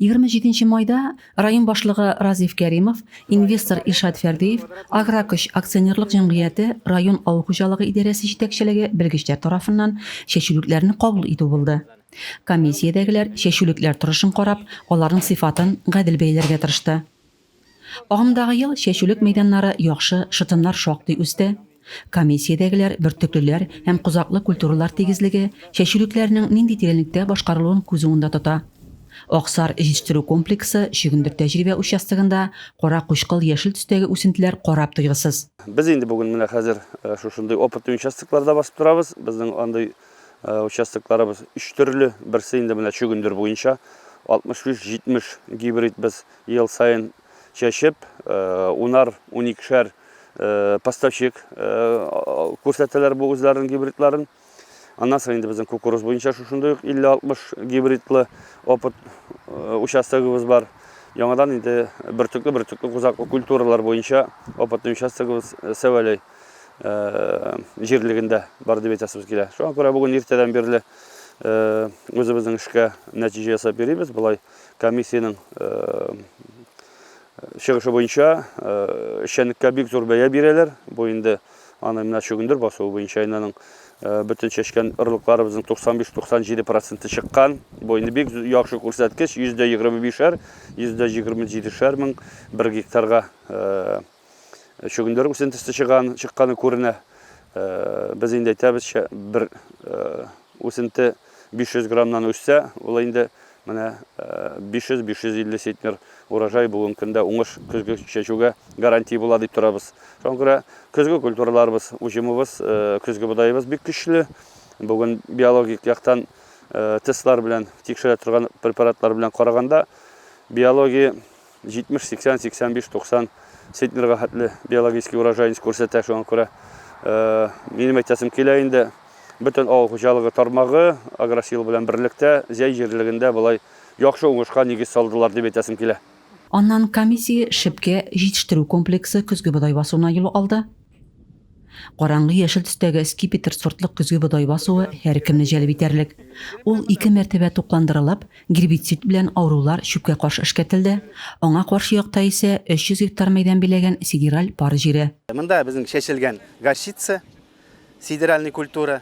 Егерме җиденче майда район башлыгы Разиф Кәримов, инвестор Илшат Фәрдиев, Агракөч акционерлык җәмгыяте район авыл хуҗалыгы идарәсе җитәкчелеге белгечләр тарафыннан чәчүлекләрне кабул итү булды. Комиссиядәгеләр чәчүлекләр торышын карап, аларның сыйфатын гадел бәяләргә тырышты. Агымдагы ел чәчүлек мәйданнары яхшы, шытымнар шактый үсте. Комиссиядәгеләр бөртеклеләр һәм козаклы культуралар тигезлеге, чәчүлекләрнең нинди тирәнлектә башкарылуын күз уңында тота. Аксар җитештерү комплексы Чөгендер тәҗрибә участогында кара-кучкыл яшел төстәге үсентеләр карап туйгысыз. Без инде бүген менә хәзер шушындый опытный участокларда басып торабыз. Безнең андый участокларыбыз өч төрле. Берсе инде менә чөгендер буенча, 65-70 гибрид без Ел саен чәчеп, унар-уникешәр поставщик күрсәтәләр бу үзләренең гибридларын. Аннан соң инде безнең кукуруз буенча шушындый ук 50-60 гибридлы опыт участогыбыз бар. Яңадан инде бөртекле-бөртекле кузаклы культуралар буенча опытный участогыбыз Сәвәләй җирлегендә бар дип әйтәсебез килә. Шуңа күрә бүген иртәдән бирле үзебезнең эшкә нәтиҗә ясап йөрибез. Болай Комиссиянең чыгышы буенча эшчәнлеккә бик зур бәя бирәләр. Бу инде аны менә чөгендер басуы буенча инәнең бөтен чәчкән орлыкларыбызның 95-97 проценты чыккан. Бу инде бик яхшы күрсәткеч, 125-әр, 127-шәр мең бер гектарга Чөгендер үсентесе чыган, чыкканы күренә. Без инде әйтәбезчә, бер үсенте 500 граммнан үссә, ул инде менә 500-550 сетнер урожай бүгенге көндә уңыш көзге чәчүгә гарантия була дип торабыз. Шуңа күрә көзге культураларыбыз, уҗымыбыз, көзге бодайыбыз бик көчле. Бүген биологик яктан тестлар белән тикшерә торган препаратлар белән караганда, биология 70, 80, 85, 90 центнерга хәтле биологический урожайность күрсәтә. Шуңа күрә минем әйтәсем килә инде, бөтен авыл хуҗалыгы тармагы Агросил белән берлектә Зәй җирлегендә болай яхшы уңышка нигез салдылар дип әйтәсем килә. Аннан комиссия Шепкә җитештерү комплексы көзге бодай басуына юл алды. Караңгы яшел төстәге скипетр сортлы көзге бодай басуы һәркемне җәлеп итәрлек. Ул ике мәртәбә тукландырылып, гербицид белән авырулар чүпкә каршы эшкәртелде, аңа каршы якта исә 300 гектар мәйдан биләгән сидераль пар җире. Монда безнең чәчелгән горчица, сидеральный культура,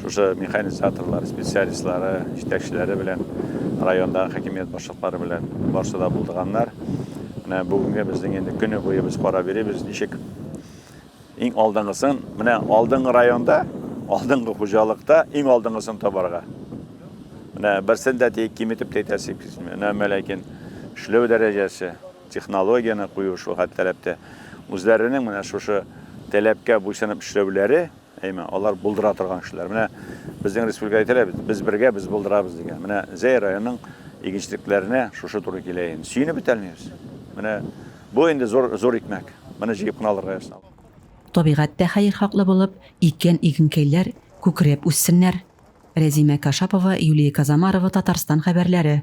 Шушы механизаторлар, специалистлары, җитәкчеләре белән, райондагы хакимият башлыклары белән барсы да булдыганнар. Менә бүгенге безнең инде көне буе без карап йөрибез, ничек иң алдыңгысын, менә алдыңгы районда, алдыңгы хуҗалыкта иң алдыңгысын табарга. Менә берсен дә тик киметеп әйтәсе килми. Әмма ләкин эшләү дәрәҗәсе, технологияне кую шул хәтле таләптә. Үзләренең менә шушы таләпкә буйсынып эшләүләре Әйме, алар булдыра торган кешеләр. Менә безнең республика әйтелә бит, без бергә, без булдырабыз дигән. Менә Зәй районының игенчелекләренә шушы туры килә инде. Сөенеп бетәлмибез. Менә бу инде зур зур икмәк. Моны җыеп кына алырга язсын. Табигать тә хәерхаклы булып, иккән игенкәйләр күкрәп үссеннәр. Рәзимә Кашапова, Юлия Казамарова, Татарстан хәбәрләре.